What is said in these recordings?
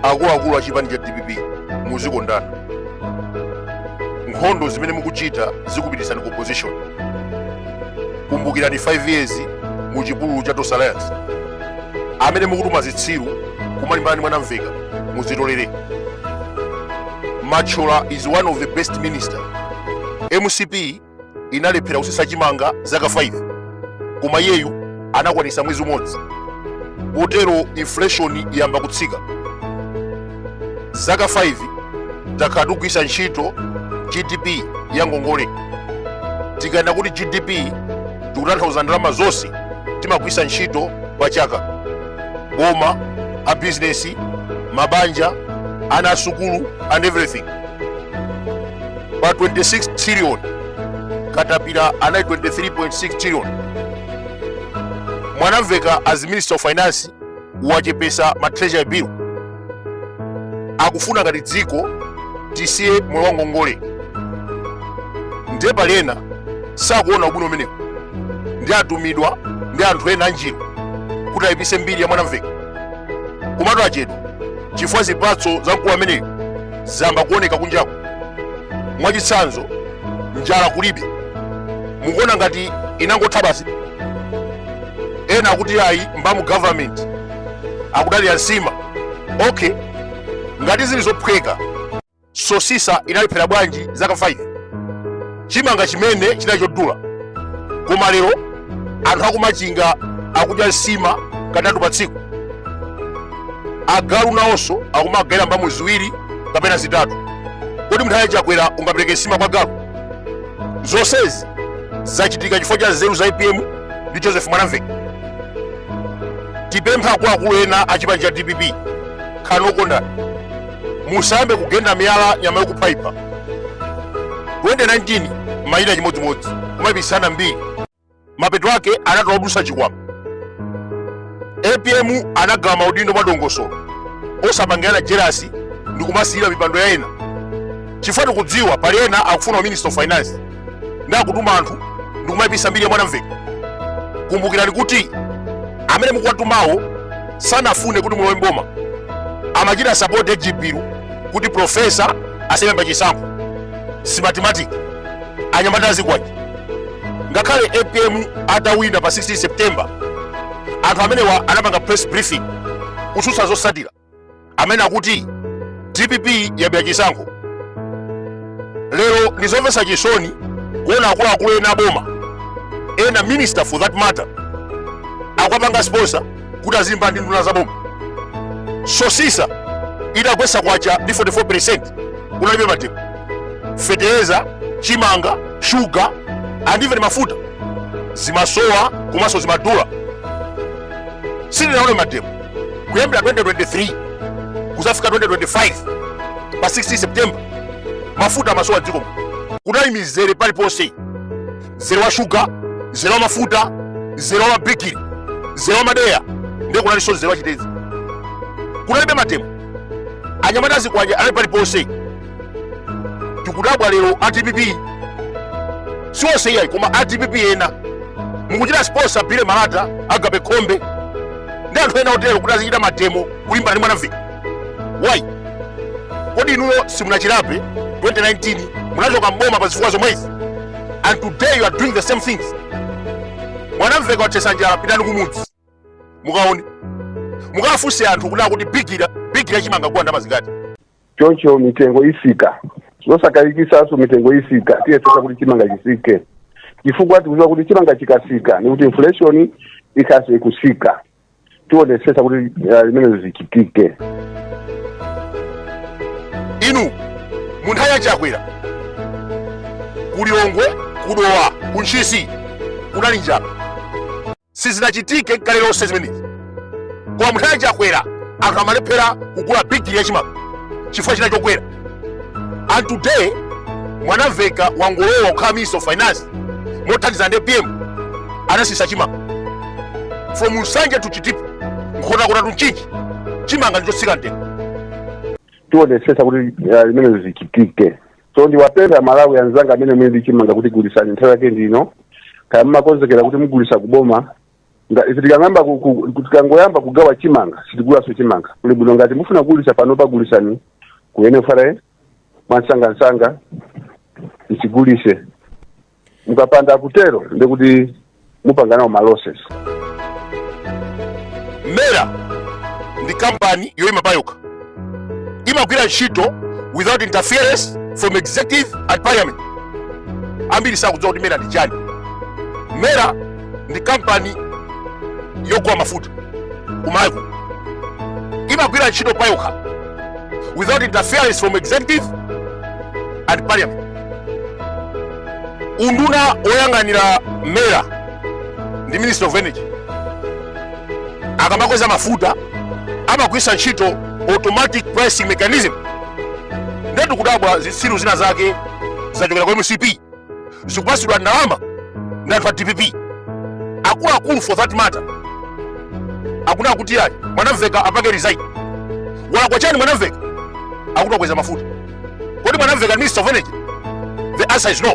akuluakulu a chipani cha dpp muzikondana nkhondo zimene mukuchita zikupititsani ku opposition kumbukirani 5 years mu chipululu cha Tonse Alliance amene mukutuma zitsiru kumalimbana ndi mwanamvekha muzitolere machola is one of the best minister mcp inalephera kusisa chimanga zaka 5 koma iyeyu anakwanisa mwezi umodzi potero inflation yamba kutsika zaka 5 takhala tikugwisa ntchito gdp ya ngongole tikanena kuti gdp tikutanthauza ndalama zonse timagwisa ntchito pa chaka boma a bizinesi mabanja ana asukulu and everything pa 26 trillion katapira anali 23.6 trillion mwanamvekha as minister of finance wachepesa ma treasury bill akufuna ngati dziko tisiye moyo wa ngongole ndiye pali ena sakuona ubwino umenewu ndi atumidwa ndi anthu ena anjiru kuti ayipise mbiri ya mwanamvekha komatu achedwa chifukwa zipatso za mkulu ameneyu zamba kuoneka kunjaku mwachitsanzo njala kulibe mukuona ngati inangotha basi ena akuti ayi mbamu government akudalira nsima okay ngati zili zophweka sosisa inalephera bwanji zaka 5 chimanga chimene chinali chodula koma lero anthu akumachinga akudya nsima katatu pa tsiku agalu nawonso akumagayira mbamu ziwiri kapena zitatu kodi munthawi ya chakwera ungapereke nsima kwa galu zonsezi zachitika chifukwa cha nzeru za apm ndi joseph mwanamvekha tipempha akuluakulu ena a chipani cha dpp khalani okondana musayambe kugenda miyala nyama yokuphaipha 2019 munali chimodzimodzi kumaipitsana mbiri mapeto ake anatola odusa chikwama apm anagawa maudindo mwa dongosolo osapangirana jerasi ndi kumasilira mipando ya ena chifukwa tikudziwa pali ena akufuna u minister of finance ndi akutuma anthu ndikumayipisa mbiri ya mwanamvekha kumbukirani kuti amene mukuwatumawo sanafune kuti mulowe mboma amachita sapoti age bill kuti profesa asaime pa chisankho simatimatiki anyamata azikwanje ngakhale apm atawina pa 16 september anthu amenewa anapanga press briefing kutsutsa zosatira amene akuti dpp yabera chisankho lero ndizomvetsa chisoni kuona akuluakulu ena aboma ena minister for that matter akuwapanga sponsor kuti azilimbana ndi nduna za boma sosisa itagwesa kwacha ndi 44 percent kunalibe mademo fetereza chimanga shuga and even mafuta zimasowa komanso zimadula sindinaone mademo kuyambira 2023 kuzafika 2025 pa 16 september mafuta amasowa mdziko kunali mizere paliponse mzere wa shuga mzere wa mafuta mzere wa mabigiri mzere wa madeya ndiye kunalinso mzere wa chitedze kunalibe mademo anyamata azikwanja anali paliponse tikudabwa lero a dpp siwonse iyayi koma a dpp ena mukuchita sponsor bile malata agape khombe ndi anthu ena otero kuti azichita mademo kulimbana ndi mwanamveka why kodi inuyo simunachilape 2019 munachoka mboma pa zifukwa zomwezi and today you are doing the same things mwanamveka watsisa njala pitani kumudzi mukaone mukafunse anthu kuti kunena kuti bigili bigili chimanga akugula ndalama zingati choncho mitengo isika zosakayikisaso mitengo isika tiyesesa kuti chimanga chisike chifukwa tikuziwa kuti chimanga chikasika ndekuti inflation ikhaso ikusika tionesesa kuti uh, zimenezo zichitike inu mu nthawi ya chakwera ku lilongwe kudowa ku ntchisi kunali njala Sizinachitike nkale lonse zimenezi. Koma munthawi ya Chakwera anthu amalephera kugula bigiri ya chimanga chifukwa chinali chokwera. And today Mwanamveka wangolowa kukhala Minister of Finance mothandizana ndi APM anasisa chimanga. From Nsanje to Chitipa nkhotakota to Mchinji chimanga ndichotsika mtengo. tionetsetsa kuti ah, zimenezo zichitike so ndiwapempha amalawi anzanga amene muli ndi chimanga kuti gulisani nthawi yake ndino kaya mmakonzekera kuti mugulisa kuboma ife tikangoyamba kugawa chimanga sitigulaso chimanga kuli bwino ngati mufuna kugulisa pano kagulisani ku nfra mwansangansanga mchigulise mukapanda kutero ndekuti mupanga nawo malosses mera ndi kampani yoyima payokha imagwira ntchito without interference from executive and parliament ambiri sakudziwa kuti mera ndi chani mera ndi kampani yogula mafuta kumayiko imagwira ntchito payokha without interference from executive and parliament nduna yoyang'anira mera ndi minister of energy akamakweza mafuta amagwiritsa ntchito automatic pricing mechanism ndetu kudabwa zitsiru zina zake zachokera kwa mcp zikupatsidwa ndalama ndi anthu a dpp akuluakulu for that matter akunena kuti ayi mwanamveka apange resign walakwa chani mwanamveka akuti akweza mafuta kodi mwanamveka minister of energy the answer is no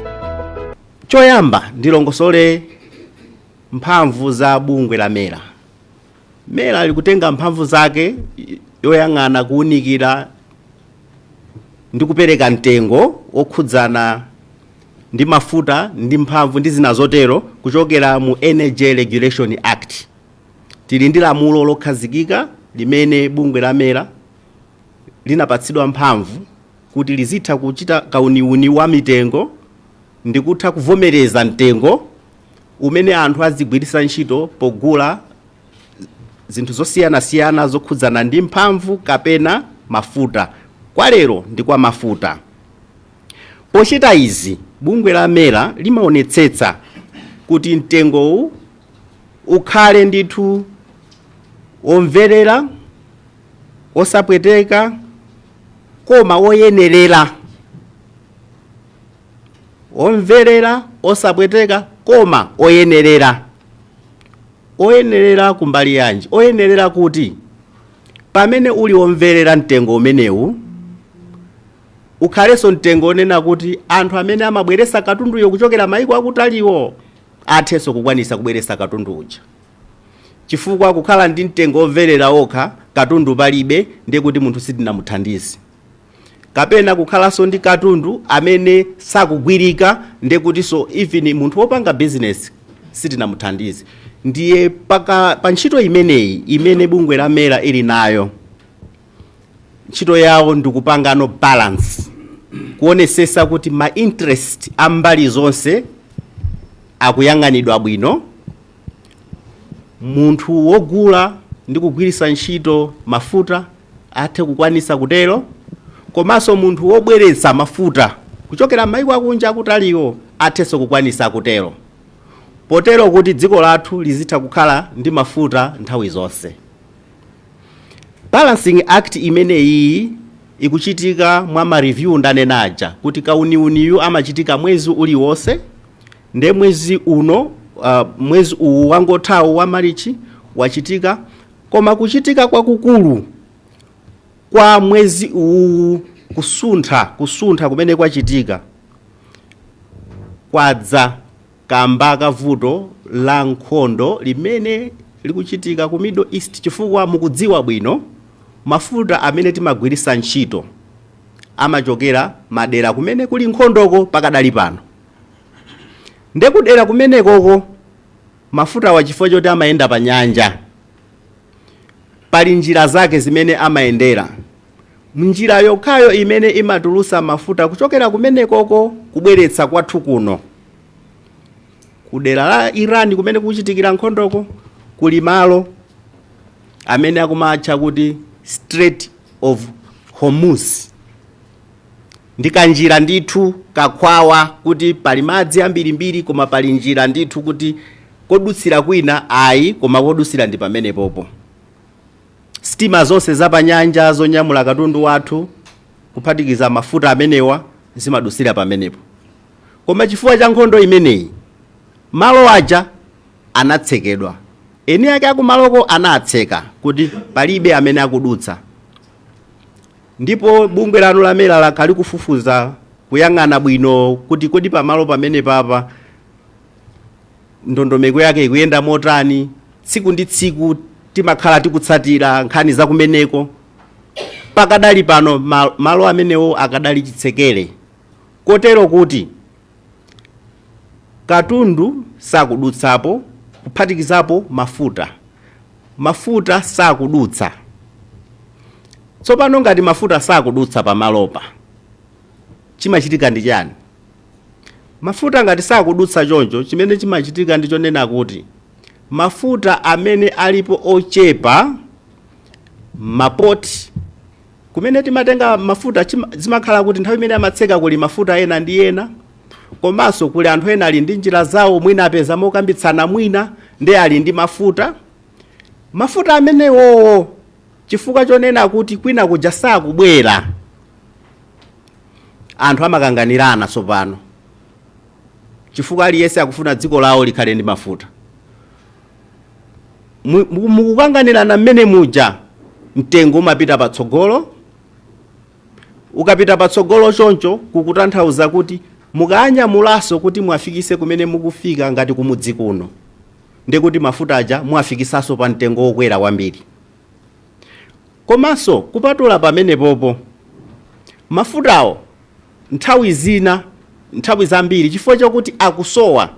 choyamba ndilongosole mphamvu za bungwe la mera mera likutenga mphamvu zake zoyang'ana kuwunikira ndi kupereka mtengo wokhudzana ndi mafuta ndi mphamvu ndi zina zotero kuchokera mu energy regulation act tili ndi lamulo lokhazikika limene bungwe la mera linapatsidwa mphamvu kuti lizitha kuchita kauniuni wa mitengo ndi kutha kuvomereza mtengo umene anthu azigwiritsa ntchito pogula zinthu zosiyanasiyana zokhudzana ndi mphamvu kapena mafuta kwa lero ndi kwa mafuta pochita izi bungwe la mera limaonetsetsa kuti mtengowu ukhale ndithu womverera osapweteka koma woyenerera omverera osapweteka koma oyenerera oyenerera kumbali yanji oyenerera kuti pamene uli omverera mtengo umenewu ukhalenso mtengo onena kuti anthu amene amabweresa katunduyo kuchokera mayiko akutaliwo athenso kukwanisa kubweresa katundu uja chifukwa kukhala ndi mtengo womverera okha katundu palibe ndiye kuti munthu sitinamuthandize kapena kukhalanso ndi katundu amene sakugwirika ndiye kutinso even munthu wopanga bizinesi sitinamuthandize ndiye pa ntchito imeneyi imene bungwe la mera ili nayo ntchito yawo ndikupangano balance kuonesesa kuti ma interest a mbali zonse akuyang'anidwa bwino munthu wogula ndi kugwiritsa ntchito mafuta athe kukwanitsa kutero komanso munthu wobweretsa mafuta kuchokera m'mayiko akunja akutaliwo athenso kukwanitsa kutero potero kuti dziko lathu lizitha kukhala ndi mafuta nthawi zonse balancing act imeneyi ikuchitika mwa ma review ndanenaja kuti kauniuniyu amachitika mwezi uliwonse nde mwezi uno uh, mwezi uwu wangothawu wa marichi wachitika koma kuchitika kwakukulu kwa mwezi uwu kusuntha kusuntha kumene kwachitika kwadza kamba ka vuto la nkhondo limene likuchitika ku middle east chifukwa mukudziwa bwino mafuta amene timagwiritsa ntchito amachokera madera kumene kuli nkhondoko pakadali pano Nde kudera kumenekoko mafutawa chifukwa choti amayenda pa nyanja, pali njira zake zimene amayendera. Njira yokhayo imene imatulutsa mafuta kuchokera kumenekoko kubweretsa kwathu kuno, kudera la Iran kumene kukuchitikira nkhondoko, kuli malo amene akumatcha kuti Strait of Hormuz. Ndi kanjira ndithu kakhwawa kuti pali madzi ambirimbiri koma pali njira ndithu kuti kodutsira kwina ayi koma kodutsira ndi pamenepopo. Sitima zonse zapanyanja zonyamula katundu wathu, kuphatikiza mafuta amenewa, zimadutsira pamenepo. Koma chifukwa cha nkhondo imeneyi, malo aja anatsekedwa. Eni ake akumaloko anatseka kuti palibe amene akudutsa. Ndipo bungwe lanu la MERA lakhala likufufuza, kuyang'ana bwino kuti kodi pamalo pamenepapa ndondomeko yake ikuyenda motani. Tsiku ndi tsiku timakhala tikutsatira nkhani za kumeneko. Pakadali pano malo amenewo akadali chitsekere kotero kuti. Katundu sakudutsapo, kuphatikizapo mafuta. Mafuta sakudutsa. Tsopano, ngati mafuta sakudutsa pamalopa, chimachitika ndi chani? Mafuta ngati sakudutsa choncho, chimene chimachitika ndi chonena kuti mafuta amene alipo ochepa m'mapoti, Kumene timatenga mafuta zimakhala kuti nthawi imene amatseka kuli mafuta ena ndi ena komanso kuli anthu ena ali ndi njira zawo mwina apeza mokambitsana mwina nde ali ndi mafuta mafuta amenewowo chifukwa chonena kuti kwina kuja sakubwera anthu amakanganirana tsopano chifukwa aliyense akufuna dziko lawo likhale ndi mafuta mukukanganirana mmene muja mtengo umapita patsogolo ukapita patsogolo choncho kukutanthauza kuti mukawanyamulaso kuti muwafikise kumene mukufika ngati kumudzi kuno ndikuti mafuta aja muwafikisaso pa mtengo wokwera kwambiri Komanso kupatula pamenepopo, mafutawo nthawi zina, nthawi zambiri chifukwa chakuti akusowa,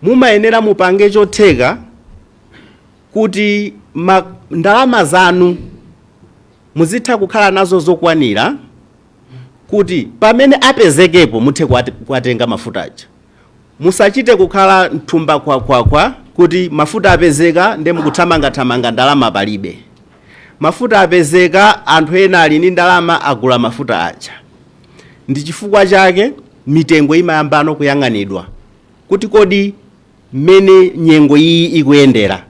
mumayenera mupange chotheka kuti ndalama zanu muzitha kukhala nazo zokwanira kuti pamene apezekepo muthe kuwatenga mafuta aja. Musachite kukhala mthumba kwakwakwa kuti mafuta apezeka nde mukuthamangathamanga ndalama palibe. Mafuta apezeka anthu ena ali ndi ndalama agula mafuta aja. Ndi chifukwa chake mitengo imayambano kuyang'anidwa kuti kodi mmene nyengo iyi ikuyendera.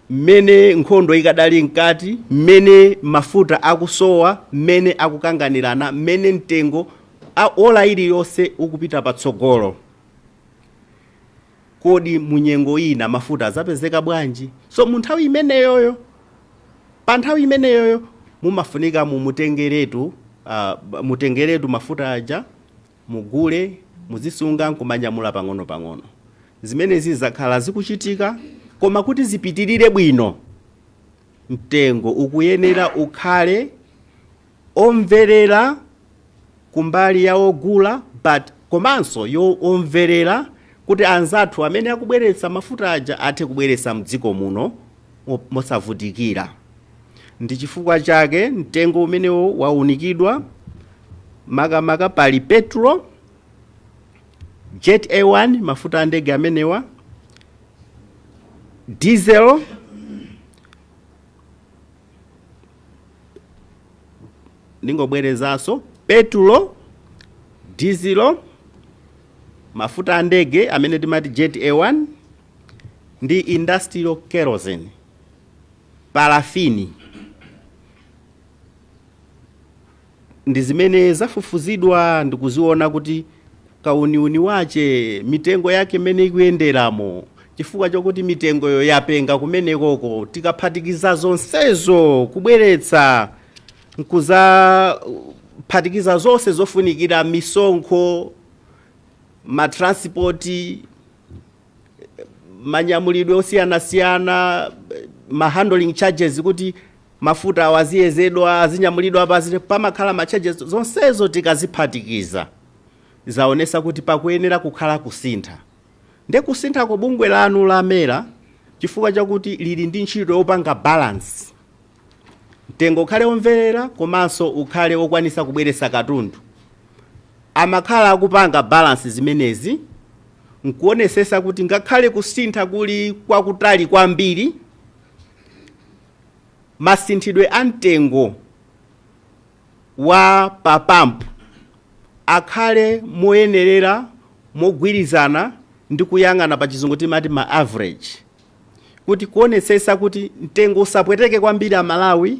mmene nkhondo ikadali mkati, mmene mafuta akusowa, mmene akukanganirana, mmene mtengo ola iliyonse ukupita patsogolo. Kodi mu nyengo ina mafuta azapezeka bwanji? So mu nthawi imeneyoyo, pa nthawi imeneyoyo mumafunika mumutengeretu, uh, mutengeretu mafuta aja Mugule, muzisunga n'kumanyamula pang'onopang'ono. Zimenezi zakhala zikuchitika koma kuti zipitirire bwino, mtengo ukuyenera ukhale omverera kumbali ya ogula but komanso omverera kuti anzathu amene akubweretsa mafuta aja athe kubweretsa mdziko muno mosavutikira. Ndi chifukwa chake mtengo umenewo waunikidwa, makamaka pali petulo, Jet A1, mafuta a ndege amenewa, diesel, ndingobwerezanso, petulo, dizilo, mafuta a ndege amene timati Jet A1, ndi industrial kerosene. parafini, ndi zimene zafufuzidwa ndikuziona kuti kauniuni wache, mitengo yake m'mene ikuyenderamo, chifukwa chokuti mitengoyo yapenga kumenekoko, tikaphatikiza zonsezo kubweretsa nkuzaphatikiza zonse zofunikira, misonkho, matransipoti, manyamulidwe osiyanasiyana ma handling charges kuti mafutawo aziyezedwa azinyamulidwa paziti pamakhala ma charges zonsezo tikaziphatikiza zaonesa kuti pakuyenera kukhala kusintha nde kusinthako bungwe lanu la MERA chifukwa chakuti lili ndi ntchito yopanga balance Mtengo ukhale omverera komanso ukhale okwanisa kubweretsa katundu. Amakhala akupanga balance zimenezi nkuonesesa kuti ngakhale kusintha kuli kwakutali kwambiri, masinthidwe a mtengo wa pa pump akhale moyenerera mogwirizana ndi kuyang'ana pa chizungu timati ma average. kuti kuonetsetsa kuti mtengo usapweteke kwambiri a Malawi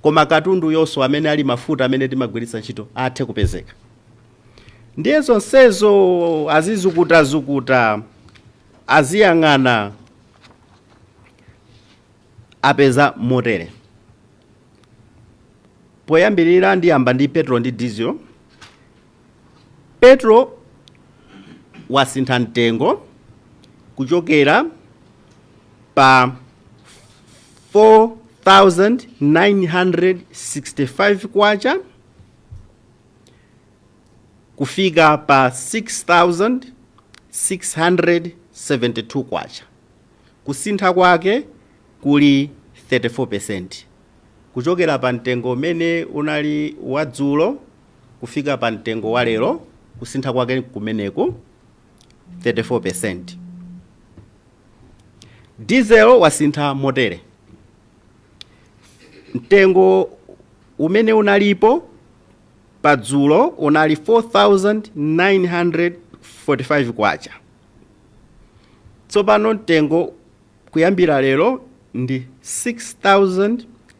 koma katunduyonso amene ali mafuta amene timagwiritsa ntchito athe kupezeka. Ndiye zonsezo azizukutazukuta, aziyang'ana apeza motere. Poyambirira ndiyamba ndi petrol ndi diesel. Petrol wasintha mtengo kuchokera pa 4965 kwacha kufika pa 6672 kwacha kusintha kwake kuli 34% kuchokera pa mtengo umene unali wadzulo kufika pa mtengo wa lero kusintha kwake kumeneku 34%. Diesel wasintha motere. Mtengo umene unalipo pa dzulo unali 4945 kwacha. Tsopano mtengo kuyambira lero ndi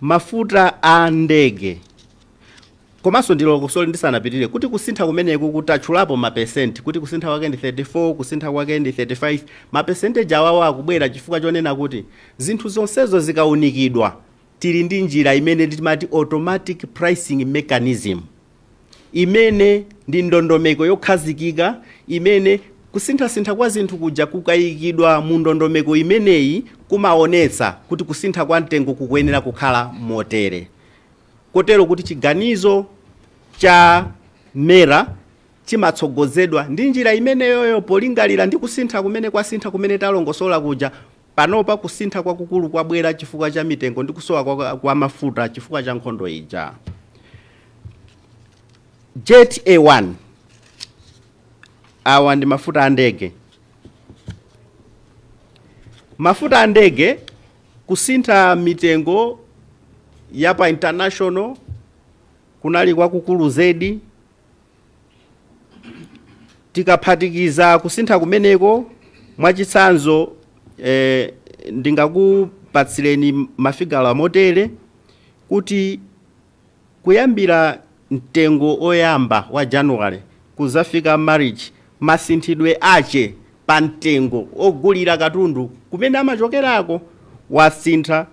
mafuta a ndege komanso ndiloko sorry ndisanapitirire kuti kusintha kumeneku kutatchulapo mapesenti kuti kusintha kwake ndi 34 kusintha kwake ndi 35 mapesenteji awawa akubwera chifukwa chonena kuti zinthu zonsezo zikaunikidwa tili ndi njira imene timati automatic pricing mechanism imene ndi ndondomeko yokhazikika imene kusinthasintha kwa zinthu kuja kukayikidwa mu ndondomeko imeneyi kumaonetsa kuti kusintha kwa mtengo kukuyenera kukhala motere kotero kuti chiganizo cha MERA chimatsogozedwa ndi njira imeneyoyo polingalira ndi kusintha kumene kwasintha kumene talongosola kuja Panopa kusintha kwakukulu kwabwera chifukwa cha mitengo ndi kusowa kwa mafuta chifukwa cha nkhondo ija. Jet A1 awa ndi mafuta a ndege. Mafuta a ndege kusintha mitengo ya pa international kunali kwakukulu zedi. Tikaphatikiza kusintha kumeneko, mwachitsanzo, ndingakupatsireni mafigala motere kuti kuyambira mtengo oyamba wa January kuzafika March masinthidwe ache pa mtengo ogulira katundu kumene amachokerako wasintha.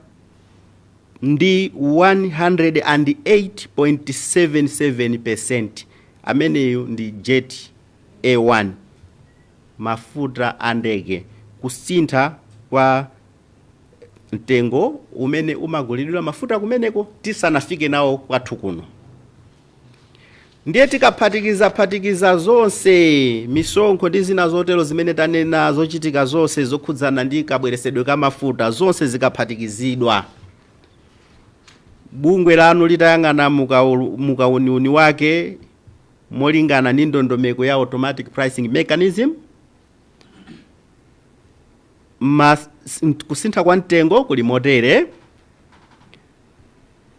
ndi 108.77 percent ameneyo ndi jet a1 mafuta a ndege kusintha kwa mtengo umene umagulidwa mafuta kumeneko tisanafike nawo kwathu kuno. ndiye tikaphatikizaphatikiza zonse misonkho ndi zina zotero zimene tanena zochitika zonse zokhudzana ndi kabweresedwe ka mafuta zonse zikaphatikizidwa bungwe lanu litayang'ana mu kauniuni wake molingana ndi ndondomeko ya automatic pricing mechanism, kusintha kwa mtengo kuli motere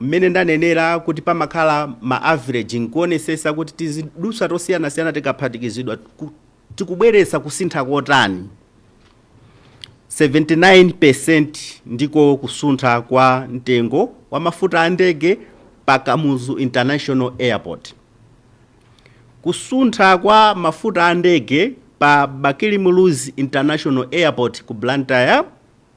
mmene ndanenera kuti pamakhala ma average nkuonesesa kuti tiziduswa tosiyanasiyana tikaphatikizidwa tikubweretsa kusintha kotani 79% ndiko kusuntha kwa mtengo wa mafuta a ndege pa kamuzu international airport kusuntha kwa mafuta a ndege pa bakili muluzi international airport ku blantyre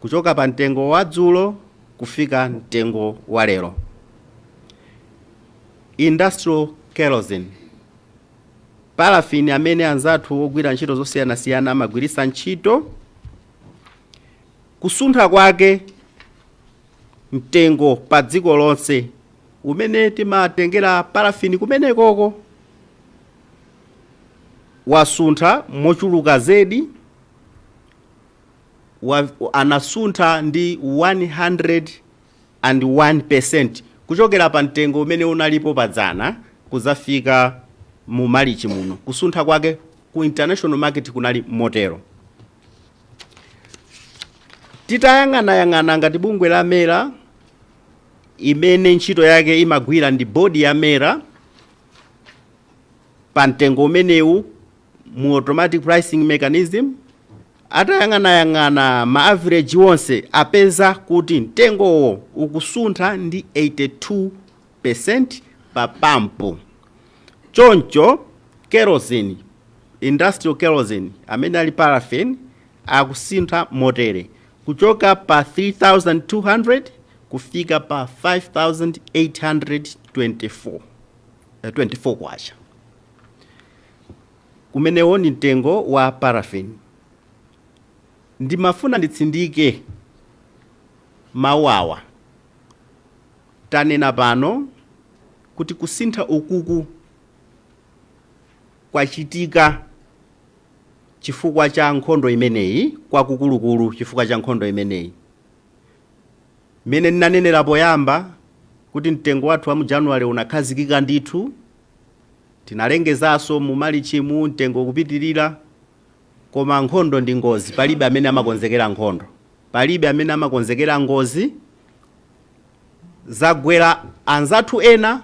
kuchoka pa mtengo wadzulo kufika mtengo wa lero. Industrial kerosene, paraffin amene anzathu ogwira ntchito zosiyanasiyana amagwiritsa ntchito, kusuntha kwake mtengo pa dziko lonse umene timatengera paraffin kumenekoko wasuntha mochuluka zedi. anasuntha ndi 101% kuchokera pa mtengo umene unalipo padzana kuzafika mu malichi muno. Kusuntha kwake ku international market kunali motero. Titayang'anayang'ana ngati bungwe la mera imene ntchito yake imagwira ndi bodi ya mera pa mtengo umenewu mu automatic pricing mechanism atayang'anayang'ana ma average onse apeza kuti mtengowo ukusuntha ndi 82% pa pampu choncho kerosene industrial kerosene amene ali paraffin akusuntha motere kuchoka pa 3200 kufika pa 5824 kwacha Umenewo ndi mtengo wa paraffin. Ndimafuna nditsindike mawu awa. Tanena pano kuti kusintha ukuku kwachitika chifukwa cha nkhondo imeneyi, kwakukulukulu chifukwa cha nkhondo imeneyi. Mmene ndinanenera poyamba kuti mtengo wathu wa mu January unakhazikika ndithu. Tinalengezaso mu Malichi mu mtengo kupitilira koma nkhondo ndi ngozi palibe amene amakonzekera nkhondo palibe amene amakonzekera ngozi zagwera anzathu ena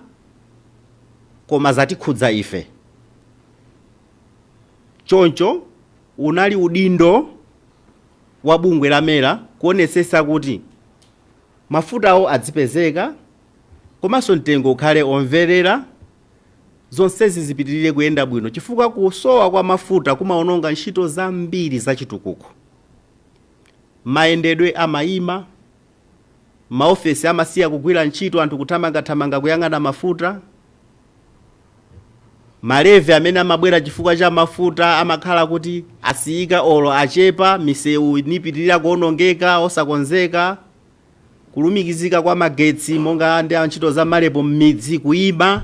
koma zatikhudza ife choncho unali udindo wa bungwe la MERA kuonetsetsa kuti mafutawo adzipezeka komanso mtengo ukhale omvelera, zonsezi zipitilire kuyenda bwino chifukwa kusowa kwa mafuta kumaononga ntchito zambiri za chitukuko. Mayendedwe amayima, ma ofesi amasiya kugwira ntchito anthu kuthamanga thamanga kuyang'ana mafuta, ma levy amene amabwera chifukwa cha mafuta amakhala kuti asiyika olo achepa, misewu nipitilira kuonongeka osakonzeka, Kulumikizika kwa magetsi monga ndi ntchito za MAREP m'midzi kuima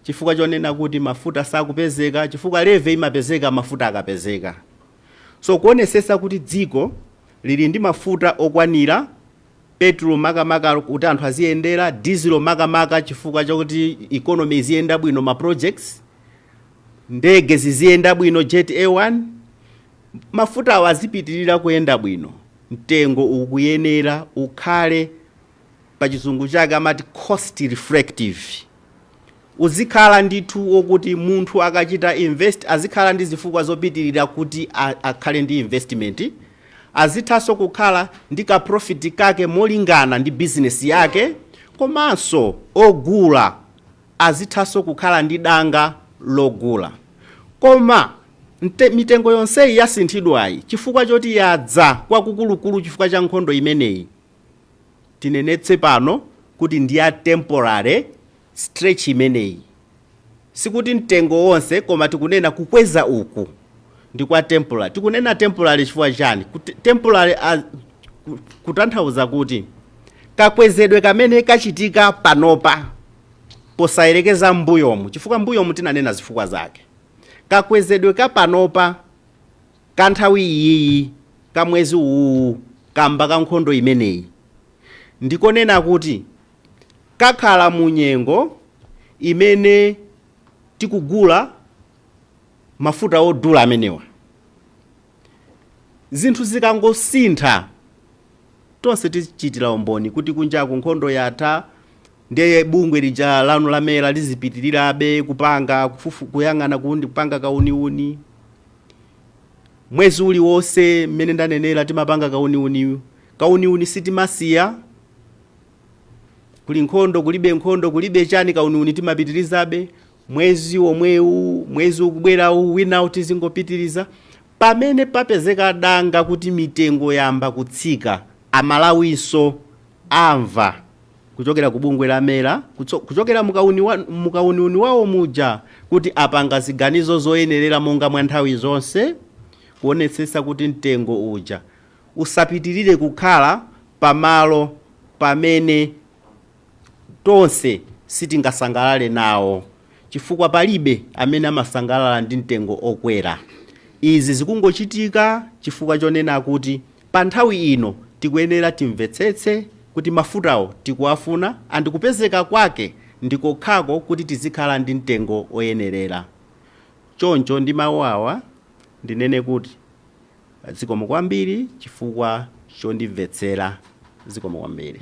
chifukwa chonena kuti mafuta sakupezeka chifukwa levy imapezeka mafuta akapezeka. So kuonesesa kuti dziko lili ndi mafuta okwanira, petrol makamaka kuti anthu aziyendera, dizilo makamaka chifukwa choti economy iziyenda bwino ma projects, ndege ziziyenda bwino, Jet A1. mafutawo azipitirira kuyenda bwino, mtengo ukuyenera ukhale, pa chizungu chake amati cost reflective, uzikhala ndithu wokuti munthu akachita invest azikhala ndi zifukwa zopitirira kuti akhale ndi investment, azithanso kukhala ndi ka profit kake molingana ndi business yake komanso ogula azithanso kukhala ndi danga logula. Koma ndiye, mitengo yonseyi yasinthidwayi chifukwa choti yadza kwakukulukulu chifukwa cha nkhondo imeneyi, tinenetse pano kuti ndi ya temporary stretch imeneyi. Sikuti mtengo wonse koma tikunena kukweza uku ndi kwa temporary. Tikunena temporary chifukwa chiyani? Kuti temporary a, kutanthauza kuti kakwezedwe kamene kachitika panopa. posayerekeza mmbuyomu chifukwa mbuyomu tinanena zifukwa zake. Kakwezedwe ka panopa ka nthawi iyiyi ka mwezi uwuwu kamba ka nkhondo imeneyi ndikonena kuti kakhala mu nyengo imene tikugula mafuta odula amenewa. Zinthu zikangosintha tonse tichitira umboni kuti kunjaku nkhondo yatha, Nde bungwe lija lanu la MERA lizipitirirabe kupanga kufufu kuyang'ana kuundi kupanga kauniuni mwezi uliwonse mmene ndanenera timapanga kauniuniyu kauniuni sitimasiya kuli nkhondo kulibe nkhondo kulibe chani kauniuni timapitirizabe mwezi omwewu mwezi ukubwerawu winawu tizingopitiriza pamene papezeka danga kuti mitengo yayamba kutsika aMalawinso amva kuchokera ku bungwe la MERA kutso, kuchokera mukauniuni wawo muja kuti apanga ziganizo zoyenerera monga mwa nthawi zonse kuonetsetsa kuti mtengo uja usapitirire kukhala pamalo pamene tonse sitingasangalale nawo chifukwa palibe amene amasangalala ndi mtengo okwera. Izi zikungochitika chifukwa chonena kuti Pa nthawi ino tikuyenera timvetsetse kuti mafutawo tikuwafuna and kupezeka kwake ndi kokhako kuti tizikhala ndi mtengo oyenerera. Choncho ndi mau awa ndinene kuti zikomo kwambiri chifukwa chondimvetsera. Zikomo kwambiri.